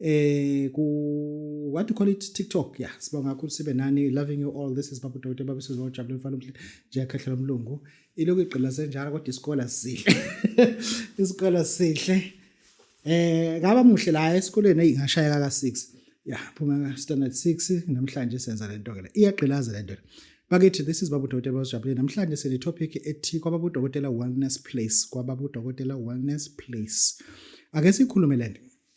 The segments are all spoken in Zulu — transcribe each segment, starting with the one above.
eh ku what do you call it TikTok yeah sibonga kakhulu sibe nani loving you all this is Babu Dr Babu Sizo Jabule mfana umhle nje akhahlela umlungu ilokhu igqila senjalo kodwa isikole sihle isikole sihle eh ngaba muhle la esikoleni ingashayeka ka 6 yeah phuma ka standard 6 namhlanje senza lento ke la iyagqilaza lento Bakithi this is Babu Dokotela Bosijabule namhlanje sine topic ethi kwababu Dokotela Wellness Place kwababu Dokotela Wellness Place ake sikhulume lento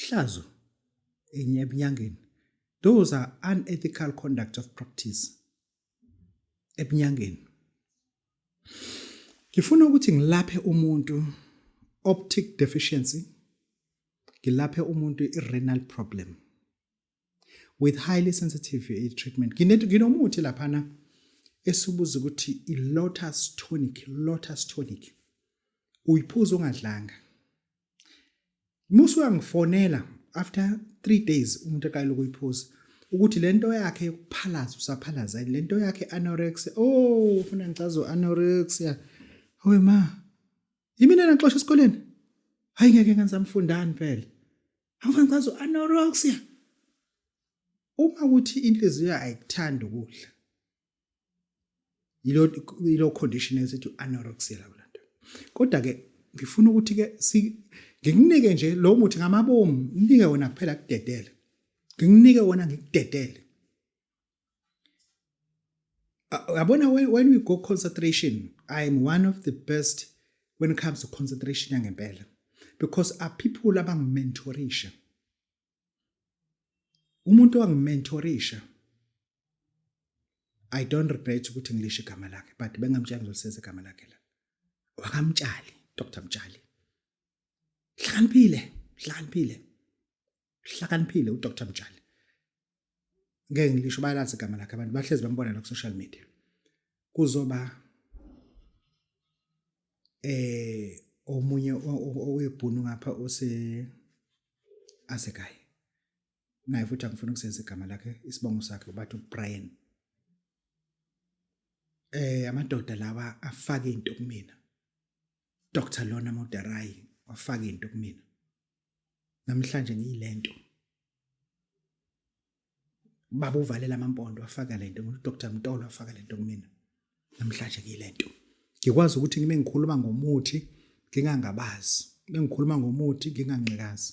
Hlazo enye ebunyangeni. Those are unethical conduct of practice ebunyangeni. Ngifuna ukuthi ngilaphe umuntu optic deficiency ngilaphe umuntu i-renal problem with highly sensitive eh, treatment nginomuthi laphana esibuza ukuthi i-lotus tonic lotus tonic uyiphuza ungadlanga musu uyangifonela after 3 days umuntu aqala ukuyiphuza ukuthi lento yakhe yokuphalaza usaphalaza lento yakhe anorexia oh ufuna ngicazo anorexia howe ma yimina naxosha esikoleni hayi ngeke ngenza mfundani phela Angifani kwazo anorexia. Uma kuthi inhliziyo ayikuthanda ukudla. Yilo yilo condition esithi anorexia la kulanda. Kodwa ke ngifuna ukuthi ke ngikunike nje lo muthi ngamabomu, nginike wona kuphela kudedele. Nginginike wona ngikudedele. yabona when, when we go concentration i am one of the best when it comes to concentration yangempela because are people abangimentorisha umuntu owangimentorisha i don't regret ukuthi ngilishe igama lakhe but bengamtshali ngizolisenza igama lakhe la wakamtshali dr mtshali hlakaniphile hlakaniphile uhlakaniphile uDr Mtshali ngeke ngilisho bayalazi igama lakhe abantu bahlezi bambona la ku social media kuzoba eh omunye owebhunu ngapha ose asekhaya naye futhi angifuna ukusenza igama lakhe isibongo sakhe ubathi uBrian eh amadoda lawa afake into kumina Dr Lona Moderayi wafaka into kumina namhlanje ngiyilento baba uvalela amampondo afaka lento ngu Dr Mtolo afaka lento kumina namhlanje ngiyilento ngikwazi ukuthi ngime ngikhuluma ngomuthi ngingangabazi bengikhuluma ngomuthi nginganqikazi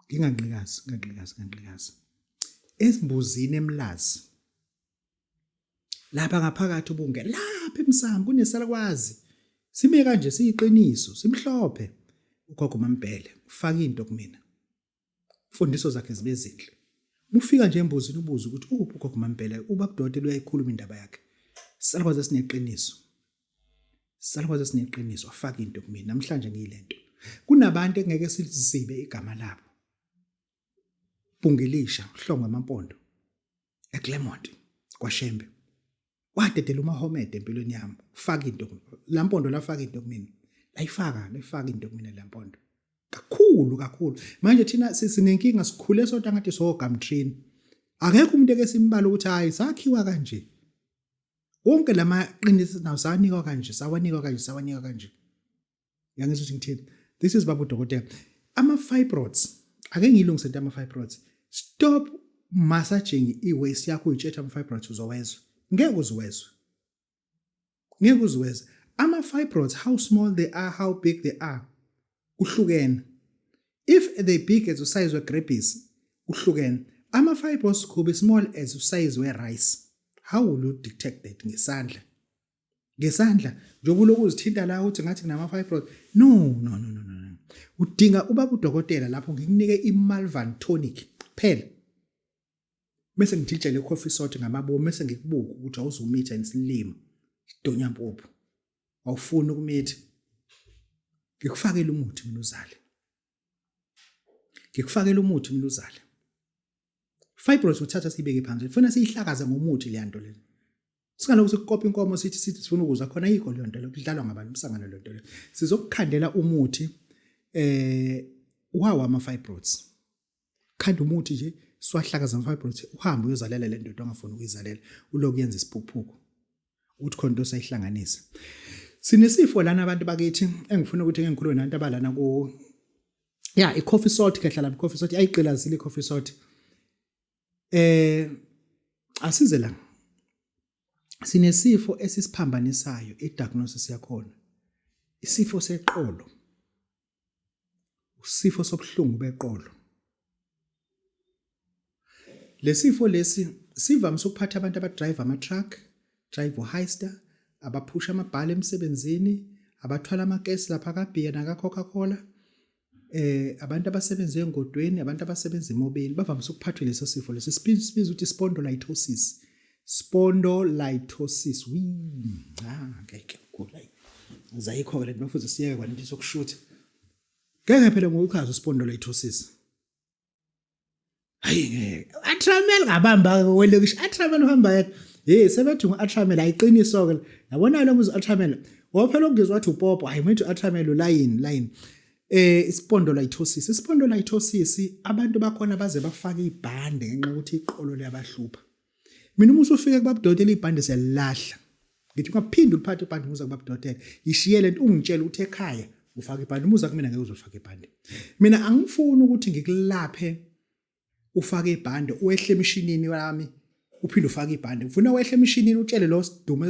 nginganqikazi nganqikazi nganqikazi ezimbuzini emlazi lapha ngaphakathi ubunge lapha emsamo kunesalukwazi sime kanje siyiqiniso simhlophe ugogo mambhele ufaka into kumina imfundiso zakhe zibe zinhle mufika nje embuzini ubuza ukuthi uphi ugogo mambhele ubabudode luyayikhuluma indaba yakhe salukwazi esineqiniso salukwazi esineqiniso afaka into kumina namhlanje ngiyilento kunabantu engeke sizibe igama labo Bhungilisha uhlongo amampondo eClermont kwaShembe wadedela uMahomed empilweni yami ufaka into lampondo lafaka into kumina layifaka layifaka into kumina lampondo kakhulu kakhulu manje thina sinenkinga sikhule sodwa ngathi so gamtrini akekho umuntu eke simbala ukuthi hayi sakhiwa kanje wonke lamaqiniso nawo sawanikwa kanje sawanikwa kanje sawanikwa kanje yangizwa ukuthi ngithini this is babu dokotela ama fibroids ake ngilungise into ama fibroids stop massaging i waist yakho uyitshetha ama fibroids uzowezwa ngeke uziwezwe ngeke uziwezwe ama fibroids how small they are how big they are uhlukene if they big as usize we grapes uhlukene ama fibroids could be small as usize we rice how will you detect that ngesandla ngesandla njengoba uloku uzithinta la uthi ngathi nginama-fibroid no no no no no udinga ubaba udokotela lapho ngikunike i-malvan tonic phela bese ngijijele coffee salt ngamabomu bese ngikubuka ukuthi awuzumitha isilimo sidonya mpuphu awufuni ukumitha ngikufakele umuthi mina uzale ngikufakela umuthi mnuzala fibroids uthatha siyibeke phansi funa siyihlakaza ngomuthi leya nto lena singalokhu sikukopa inkomo sithi sithi sifuna ukuzwa khona yikho leyo nto leyo kudlalwa ngabantu umsangano leyo nto leyo sizokukhandela umuthi eh wawa ama-fibroids khanda umuthi nje siwahlakaza mfabrothi uhambe uyozalela le ndoda ongafuni ukuyizalela uloku yenza isiphukuphuku uthi khona into osayihlanganisa sinesifo lana abantu bakithi engifuna ukuthi ngengikhulume nantu abalana ku ya i-coffee salt kehlala i-coffee salt ayiqilazile i-coffee salt eh asize la sinesifo esisiphambanisayo i-diagnosis yakhona isifo seqolo usifo sobuhlungu beqolo lesifo lesi sivamise ukuphatha abantu abadrive ama truck drive uhaysta abaphusha amabhala emsebenzini abathwala amakesi lapha kabeer naka coca cola eh abantu abasebenza engodweni abantu abasebenza emobeni bavamise ukuphathwa leso sifo leso sibiza ukuthi spondylolisthesis Spondylolisthesis. Wii, cha ngeke ngigula. Zayikho-ke le nto mafuze siyeke kwani into sokushutha. Ngeke phela ngokuchaza spondylolisthesis. Hayi ngeke. Atramel ngabamba kwelokisha. Atramel uhamba yedwa. Hey sebethi ngu-Atramel ayiqiniso ke. Yabona lo muzi Atramel. Wophela ukungizwa wathi upopo. Hayi manje u-Atramel ulayini, layini. eh ispondylolisthesis ispondylolisthesis abantu bakhona baze bafake ibhande ngenxa ukuthi iqolo liyabahlupha mina uma usufike kubabudotela ibhande siyalilahla ngithi ungaphinde uliphathe ibhande umuza kubabudotela yishiyele nto ungitshela ukuthi ekhaya ufake ibhande umuza kumina ngeke uzofaka ibhande mina angifuni ukuthi ngikulaphe ufake ibhande uwehle emishinini yami uphinde ufake ibhande ngifuna wehle emishinini utshele lo sidumo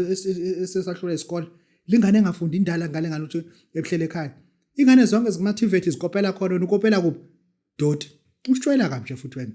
esesahlule isikole lingane engafundi indala ngale ngane ukuthi ebuhlele ekhaya ingane zonke zikumativate zikopela khona ukopela kuphi doti usitshwela kabi nje futhi wena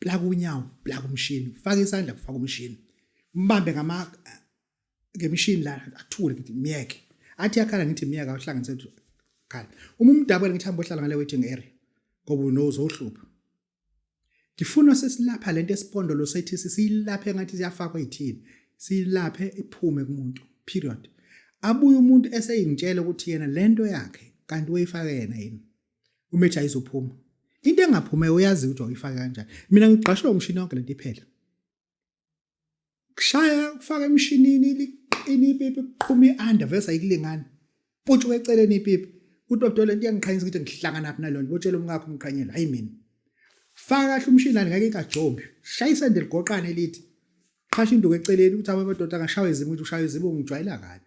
plaka unyawo plaka umshini faka isandla kufaka umshini mbambe ngama ngemishini la athule ngithi myeke athi yakhala ngithi myeke awuhlanganise khala uma umdabule ngithi hamba ohlala ngale waiting area ngoba unozohlupha ngifuna sesilapha lento esipondolo sethi siyilaphe ngathi siyafakwa ithini siyilaphe iphume kumuntu period abuye umuntu eseyingitshela ukuthi yena lento yakhe kanti uyifake yena yini umethi ayizophuma into engaphuma uyazi ukuthi uyifaka kanjani mina ngigqashwe umshini wonke lento iphela kushaya kufaka emshinini liqina ipipi kuqhuma i-under vese ayikulingani futhi weceleni ipipi uthi babudole into iyangiqhanyisa ukuthi ngihlangana phi nalona botshela umkakho umqhanyela hayi mina faka kahle umshini lani ngeke ikajombi shaya isende ligoqane lithi qhasha induku eceleni ukuthi abamadoda angashawa izimo ukuthi ushawa izimo ngijwayela kabi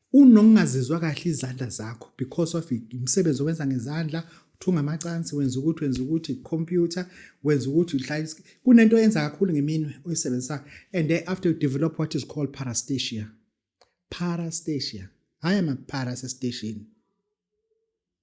Unokungazizwa kahle izandla zakho because of imisebenzi owenza ngezandla uthunga amacansi wenza ukuthi wenza ukuthi computer wenza ukuthi uhlala kunento oyenza kakhulu ngeminwe oyisebenzisayo and then after you develop what is called parastasia parastasia hhayi ama-para sesiteshini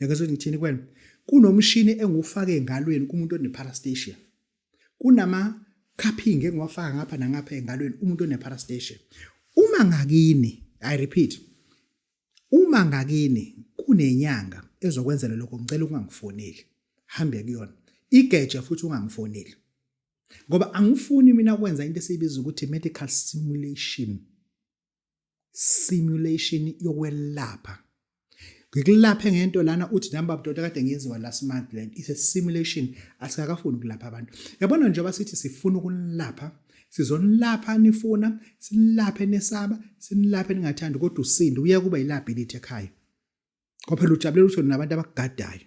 Nyakezwe ngithini kwena? Kunomshini engiwufake engalweni kumuntu oneparastasia. Kunama cupping engiwafaka ngapha nangapha engalweni umuntu oneparastasia. Uma ngakini, I repeat, uma ngakini kunenyanga ezokwenzela lokho ngicela ungangifoneli. Hambe kuyona. Igeje futhi ungangifoneli. Ngoba angifuni mina kwenza into esiyibiza ukuthi medical simulation. simulation yokwelapha ngikulaphe ngento lana uthi nami babudoda kade ngenziwa last month lento it's a simulation asikakafuni ukulapha abantu yabona njengoba sithi sifuna ukulapha sizonilapha nifuna sinilaphe nesaba sinilaphe ningathandi kodwa usindi uye kuba yilability ekhaya kwaphela ujabulela ukuthi nabantu abakugadayo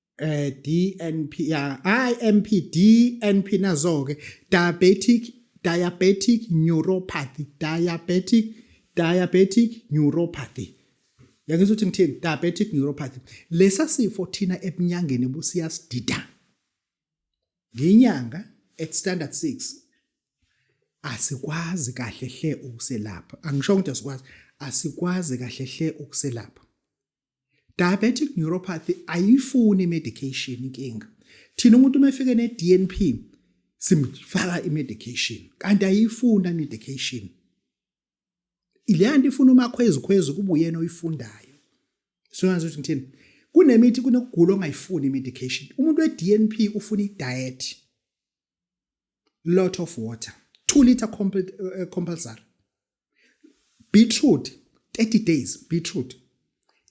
eh DNP ya IMP DNP nazo ke diabetic diabetic neuropathy diabetic diabetic neuropathy yangizwa ukuthi ngithini diabetic neuropathy lesa sifo thina ebunyangeni busiyasidida nginyanga at standard 6 asikwazi kahle hle ukuselapha angisho ukuthi asikwazi asikwazi kahle hle ukuselapha diabetic neuropathy ayifuni medication inkinga thina umuntu uma efike ne-DNP simfaka i-medication kanti ayifuna medication ileyanto ifuna umakhwezi khwezi kuba uyena oyifundayo soyazi ukuthi ngithini kunemithi kunokugula ongayifuni i-medication umuntu we-DNP ufuna i-diet lot of water 2 liter eh, compulsory beetroot 30 days beetroot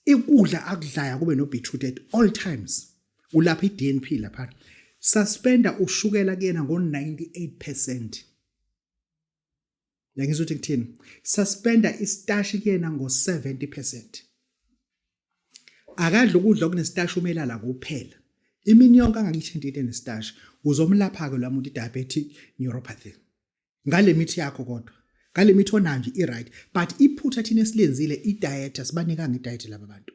ikudla akudlaya kube no beetroot at all times ulapha iDNP lapha suspenda ushukela kuyena ngo 98% Ngiyangizwa ukuthi ngithini. Suspenda istashi kuyena ngo-70%. Akadla ukudla okunestashi umelala kuphela. Imini yonke angakithinti into enestashi. Uzomlapha-ke lo muntu i-diabetic neuropathy. Ngale mithi yakho kodwa. Ngale mithi onayo nje i-right. But iphutha thina esilenzile i-diet asibanikanga i-diet laba bantu.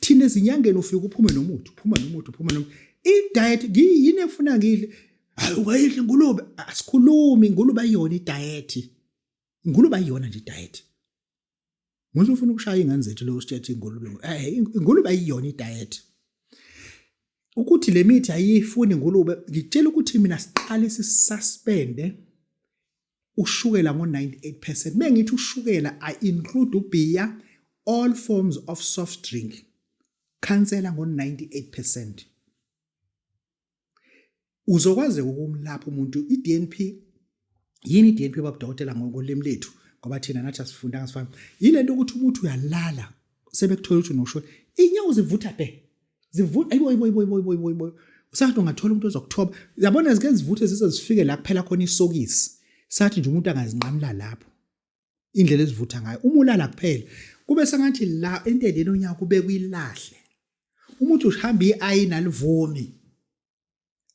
thina ezinyangeni ufike uphume nomuthi uphuma nomuthi uphuma nomuthi i-diet yini efuna ngidle hayi ungayidli ingulube asikhulumi ingulube ayiyona i-diet ingulube ayiyona nje i-diet Muthi ufuna ukushaya ingane zethu lo usitshethe ingulube. Eh ingulube ayiyona idiet. Ukuthi le mithi ayifuni ingulube ngitshela ukuthi mina siqale sisuspende ushukela ngo-98 percent bengithi ushukela i include ubeer all forms of soft drink khansela ngo-98 percent uzokwazeka ukumlapha umuntu i-dnp yini i-dnp babudokotela ngokolimi lethu ngoba thina nathi asifundanga sifana yile nto ukuthi umuntu uyalala sebekuthola ukuthi unoshwe inyawo zivutha bhe zivutha ayibo ayibo ayibo ayibo ayibo ayibo usathi ungathola umuntu ozokuthoba yabona zike zivuthe zize zifike la kuphela khona isokisi sathi nje umuntu angazinqamula lapho indlela ezivutha ngayo uma ulala kuphela kube sengathi la endeleni onyaka kube kuyilahle umuntu uhamba iayina livumi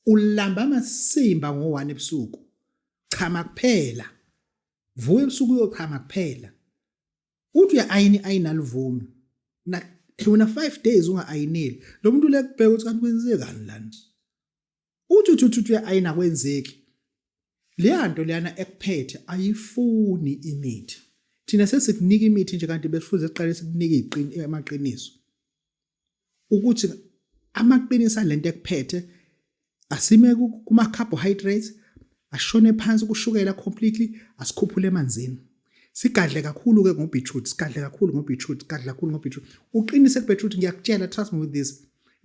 ulamba amasimba ngo-1 ebusuku chama kuphela vuka ebusuku uyochama kuphela uthi uya-ayini ayini alivumi wena five days unga-ayineli lo muntu lekubheka ukuthi kanti kwenzekani lana uthi uthi uthi uya-ayina kwenzeki leya nto leyana ekuphethe ayifuni imithi thina sesikunika imithi nje kanti besifuze siqale sikunike amaqiniso ukuthi amaqinisa lento ekuphethe asime kuma carbohydrates ashone phansi kushukela completely asikhuphule emanzini sigadle kakhulu ke ngobeetroot sigadle kakhulu ngobeetroot sigadle kakhulu ngobeetroot uqinise kubeetroot ngiyakutshela trust me with this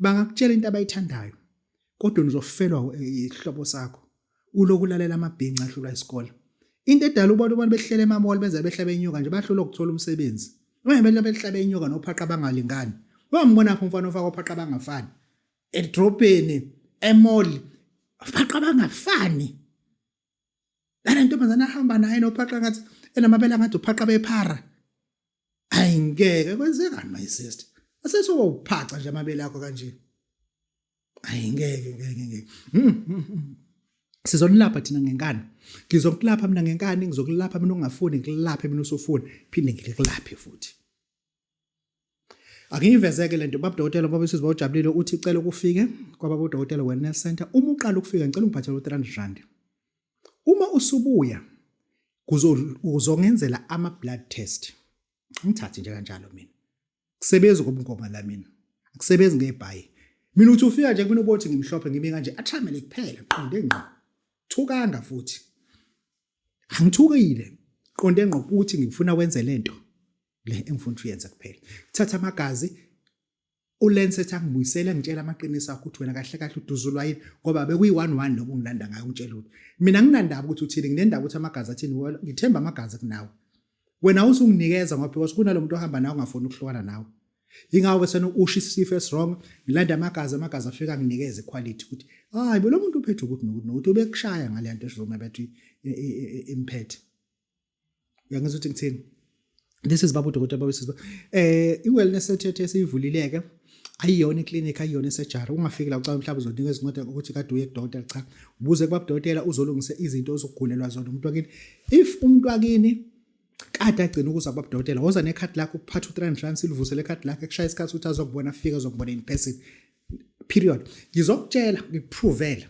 bangakutshela into abayithandayo kodwa nizofelwa isihlobo sakho uloku lalela amabhinca ahlulwa isikole into edala ubona abantu behlele emamall benza behlabe inyoka nje bahlula ukuthola umsebenzi ungempela behlabe inyoka nophaqa bangalingani wambona phi umfana ofaka ophaqa bangafani edrobheni emall phaqa bangafani lana ntombazana ahamba naye nophaqa ngathi enamabele ngathi uphaqa bephara ayi ngeke kwenzekani my sister asesoba uphaca nje amabele akho kanje ayi ngeke ngeke ngeke hmm, hmm, hmm. sizonilapha thina ngenkani ngizokulapha mina ngenkani ngizokulapha mina ungafuni ngikulaphe mina usufuni phinde ngikulaphe futhi Angiyivezeke lento baba dokotela baba sisi bawujabulile uthi cela ukufike kwababa udokotela wellness center uma uqala ukufika ngicela ungiphathele u300 rand uma usubuya kuzongenzela ama blood test ngithathe nje kanjalo mina kusebenza ngobungoma la mina akusebenzi ngebhayi mina uthi ufika nje kumina ubothi ngimhlophe ngimi kanje athamele kuphela qonde ngqo thukanga futhi angithukile qonde ngqo ukuthi ngifuna wenze lento le engifuna uyenze kuphela thatha amagazi ulense ethi angibuyisele ngitshela amaqiniso akho ukuthi wena kahle kahle uduzulwa yini ngoba bekuyi-one-one loku ngilanda ngayo ungitshela ukuthi mina nginandaba ukuthi uthini nginendaba ukuthi amagazi athini wolo ngithemba amagazi kunawe wena usunginikeza ngoba because kunalo muntu ohamba nawe ungafuni ukuhlukana nawe yingawo ke sena usho isifo esirong ngilanda amagazi amagazi afika nginikeze iquality ukuthi hayi bo lo muntu uphethe ukuthi nokuthi nokuthi ubekushaya ngale nto esizoma bethi imphethe uyangizwa ukuthi ngithini this is babu dokotela babu sisi eh i-wellness center yethu esiyivulileke ayiyona iclinic ayiyona esejari ungafiki la ucabanga mhlawumbe uzonika izincwadi ukuthi kade uye kudokotela cha ubuze kubabudokotela uzolungisa izinto ozokugulelwa zona umuntu wakini if umuntu wakini kade agcina ukuza kubabudokotela woza nekhadi lakho uphatha u-300 rand silivusele ikhadi lakho ekushaya isikhathi ukuthi azokubona afike azokubona in person period ngizokutshela ngikuphrovele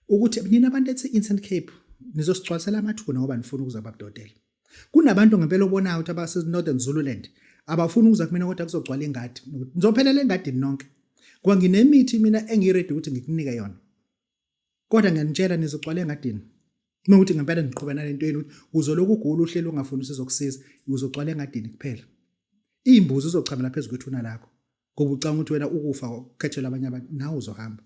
ukuthi nina abantu ethi Instant Cape nizosicwasela amathuna ngoba nifuna ukuza babudodela kunabantu ngempela obonayo ukuthi abase Northern Zululand abafuni ukuza kumina kodwa kuzogcwala ingadi ngizophelela engadini nonke ngoba nginemithi mina engiready ukuthi ngikunike yona kodwa ngiyanitshela nizogcwala engadini nokuthi ngempela niqhubana lento yenu ukuthi uzoloku ugula uhlelo ungafuni usizokusiza uzogcwala engadini kuphela imbuzi uzochamela phezulu kwethuna lakho ngoba ucanga ukuthi wena ukufa ukhethelwa abanye abantu nawe uzohamba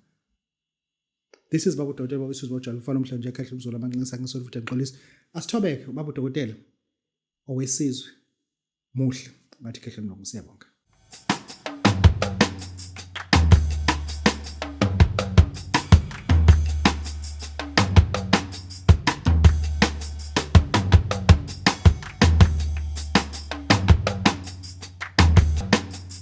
this is babu dokotela babu isizwe bojalo ufana umhlanje nje ekhahle umzolo amancinisa ngisolo futhi ngixolisa asithobeke babu dokotela owesizwe muhle ngathi khehle mlungu siyabonga